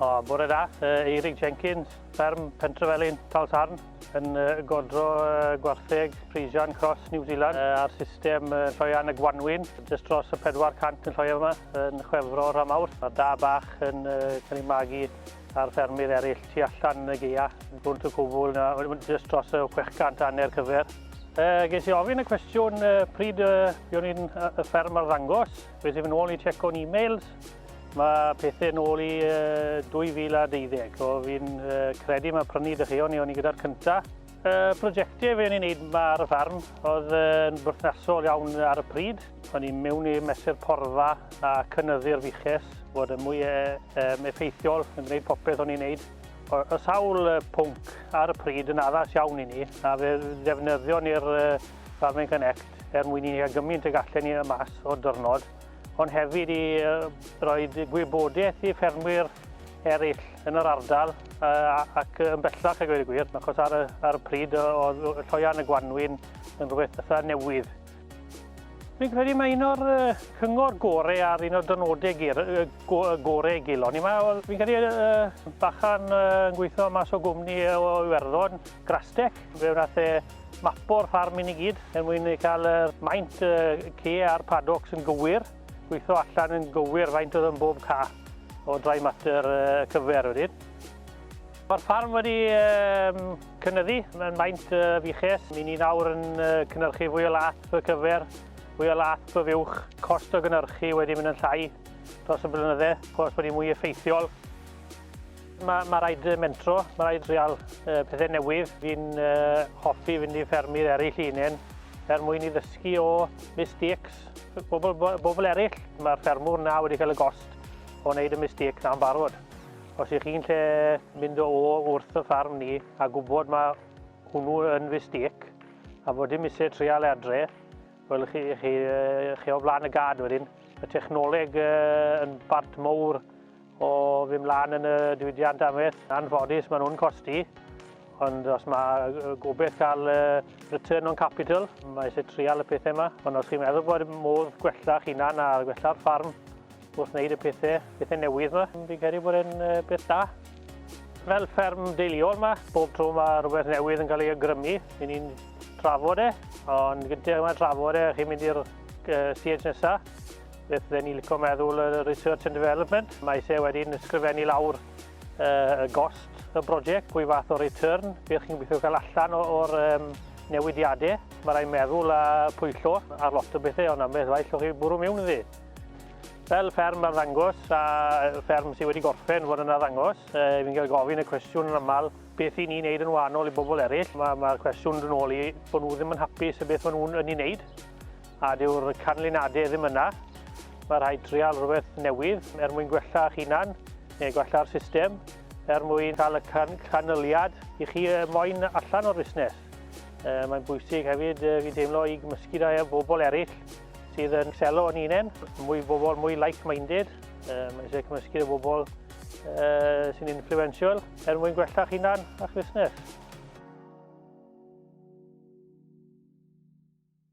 O, bore da, uh, Eirig Jenkins, fferm Pentrefelin, Talsarn, yn uh, godro uh, gwartheg Frisian Cross New Zealand uh, ar system uh, lloian y Gwanwyn, jyst dros y 400 yn lloio yma, yn chwefro rhan mawr. Mae'r da bach yn uh, cael ei magu a'r ffermydd eraill tu allan yn y gaea, yn Gwnt y Cwbl, jyst dros y 600 hanner cyfer. Uh, ges i ofyn y cwestiwn uh, pryd uh, buon ni'n uh, y fferm ar ddangos. Fe sy'n fy nôl i checko'n e-mails. Mae pethau nôl i uh, 2012. O, fi'n uh, credu mae prynu dychion ni o'n i gyda'r cyntaf. Y prosiectau fe o'n i'n neud ma ar y ffarm oedd yn berthnasol iawn ar y pryd. O'n i'n mewn i mesur porfa a cynyddu'r fuches, bod yn mwy um, effeithiol yn gwneud popeth o'n i'n neud. Y sawl pwnc ar y pryd yn addas iawn i ni, a fe ddefnyddio ni'r Farming Connect er mwyn i ni gael gymaint y gallen ni y mas o'r dyrnod, ond hefyd i roi gwybodaeth i ffermwyr eraill yn yr ardal ac yn bellach a gweud y gwir, achos ar y, ar y pryd oedd lloian y gwanwyn yn rhywbeth fatha newydd. Fi'n credu mae un o'r cyngor gore ar un o'r dynodau gur, gore i gilo. Ni mae, fi'n credu uh, bachan yn gweithio mas o gwmni o Iwerddon, Grastec, fe wnaeth e mapo'r ffarm i ni gyd er mwyn cael y maint uh, ce a'r padocs yn gywir. Gweithio allan yn gywir faint oedd yn bob cath o dry matter cyfer wedyn. Mae'r ffarm wedi um, cynyddu yn maint uh, fiches. Mi'n ni nawr yn uh, cynnyrchu fwy o lath y cyfer, fwy o lath y fiwch. Cost o gynnyrchu wedi mynd yn llai dros y blynydde, chos bod wedi mwy effeithiol. Mae ma rhaid mentro, mae rhaid trial uh, pethau newydd. Fi'n uh, hoffi fynd i ffermydd eraill i unen er mwyn i ddysgu o mistakes bobl, bobl eraill. Mae'r ffermwr na wedi cael y gost o wneud y mistake na'n barod. Os ych chi'n lle mynd o wrth y ffarm ni a gwybod mae hwnnw yn mistake a fod dim eisiau trial adre, wel chi, chi, chi o flaen y gad wedyn. Mae technoleg uh, yn bart mowr O fy mlaen yn y diwydiant amaeth, anffodus maen nhw'n costi, ond os mae gobeith cael return on capital, mae eisiau trial y pethau yma. Ond os chi'n meddwl bod modd gwella'ch hunan a gwella'r ffarm wrth wneud y pethau, pethau newydd yma, fi'n credu bod e'n beth da. Fel fferm deiliol yma, bob tro mae rhywbeth newydd yn cael ei agrymu, i ni'n trafod e, ond gyntaf yma trafod e, chi'n mynd i'r siege nesaf, Beth dden ni licio meddwl y research and development, mae se wedi'n ysgrifennu lawr uh, y gost y brosiect, pwy fath o return, beth chi'n gweithio cael allan o'r um, newidiadau. Mae rhaid meddwl a pwyllo ar lot o bethau, ond am beth faith o'ch chi bwrw mewn iddi. Fel fferm ar ddangos, a fferm sydd wedi gorffen fod yna ddangos, e, fi'n cael gofyn y cwestiwn yn aml, beth i ni'n neud yn wahanol i bobl eraill. Mae'r ma cwestiwn yn ôl i bod nhw ddim yn hapus y beth maen nhw'n yn ei wneud. A dyw'r canlyniadau ddim yna. Mae rhaid trial rhywbeth newydd er mwyn gwella eich hunan neu gwella'r system er mwyn cael y can canlyniad i chi moyn allan o'r busnes. E, mae'n bwysig hefyd e, fi'n teimlo i gymysgu da â bobl eraill sydd yn selo yn unen, mwy bobl mwy like-minded, e, mae eisiau cymysgu â bobl e, sy'n influential er mwyn gwella chi hunan a'ch busnes.